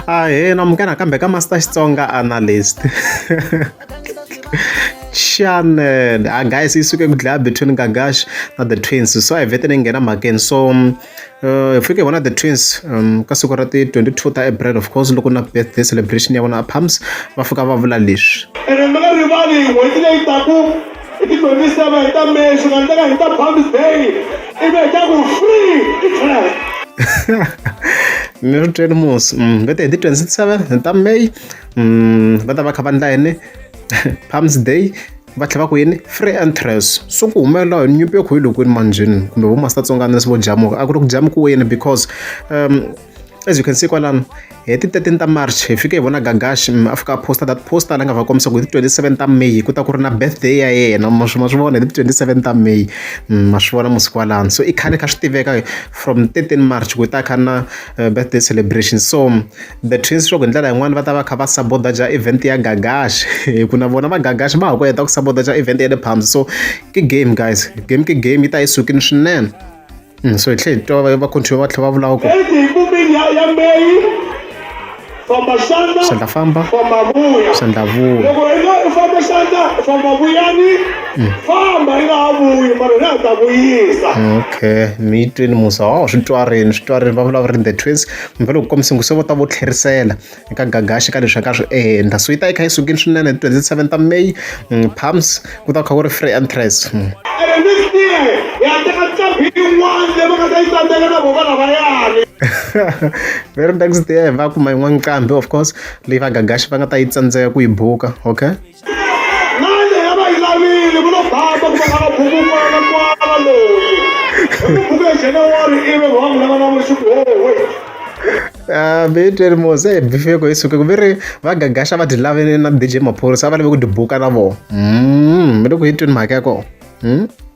Ahee, namukela kambe ka Master Xitsonga Analyst. Xana a guys yi suke ku dlaya between Gagash na the twins so a hi vete ni nghena mhakeni so hi fike hi vona the twins um, ka siku ra ti 22 ta April of course loko na birthday celebration ya vona a Palms va fika va vula leswi. ene mi nga rivali n'hweti leyi taku i tidyondzisa va hi ta messi nga ndlela hi ta bombs day ivi hi ta ku free i trap ni ri tweli musi mm, va te hi ti 27 ta may mm, va ta va kha va ndla yini palms day va tlhela va ku yini free entrance so ku humelela hi nyimpi yo khuyilokweni manjhini kumbe vo masitatsonganisi vo jamuka a ku ri ku jamukiweni because um as you can see kwalano hi ti 13 ta march hi fike hi vona gagashi a fika a posta that posta la nga va kombisa ku hi ti 27 ta may ku ta ku ri na birthday ya yena ma swi vona hi ti 27 ta may ma swi vona musiku walano so i khale kha swi tiveka from 13 march ku ta kha na eh, birthday celebration so the twins swa ku hi ndlela yin'wana va ta va kha va sabotaja event ya gagashi hi ku na vona va gagashi va ha ku heta ku sabotaja event ya le palms so ki game guys game ki game yi ta yi sukini swinene Mm, so hi tlhe hi twa va control va tlhe va vulaka ku sandla famba sandla vuya okay mi twini musa wa swi twarini swi twarini va vulavula ri the twins kumbe loko kombisa ngu se vo ta vo tlherisela eka gagaxi ka leswi ka swi endla so yi ta yi kha yi sukile swinene hi 27 ta may mm, palms ku ta kha ku ri free entrance mm. very next day va kuma yin'wana nqambi of course leyi va gagaxi va nga ta yi tsandzeka ku yi buka okay mani a va yi lavile ku lo basa ku va lava buku n'wana n'wana loyi buku ya januwari ivi va n'wi lava na vusiku howe Ah, Betwell Mose eh, bifeko isuke ku ve ri va gagasha va ti lavele na DJ Maphorisa a va lave ku ti buka na vona mm, mi le ku hitweni mhaka ya kona mm?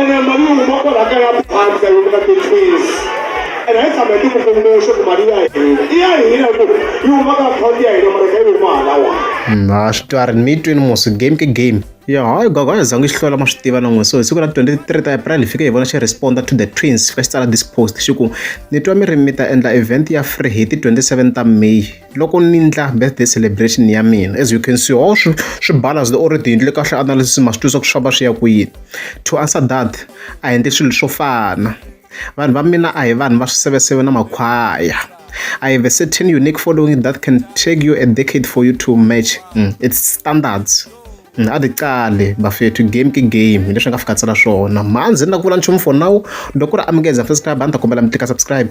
ene mali yi huma kwala ka ya bangi ka yini ka ti-fees ene hi tshama hi tikukulume swa ku mali ya hina i ya hina ku yi huma ka akhawunti ya hina mara ka yi huma halawa na swi twa ri mi twini musi game ke game ya hayi gogo a hi zangi xi hlola ma swi tiva na n'we so hi siku ra 23 ta april hi fike hi vona xi responda to the twins va xi tsala this post xi ku ni twa mi ri mi ta endla event ya free hi ti 27 ta may loko ni ndla birthday celebration ya mina as you can see all swi swi balance the already endle kahle analysis ma swi twisisa ku swi famba swi ya ku yini to answer that a endle swilo swo fana vanhu va mina a hi vanhu va swiseveseve na makhwaya I have a certain unique following that can take you a decade for you to match mm. its standards mm, a ti cali bafethu game ki game hi leswi nga fika tsala swona manzi ni na ku vula nchumu for now loko ri amukeza first time a ni ta kombela mi tika subscribe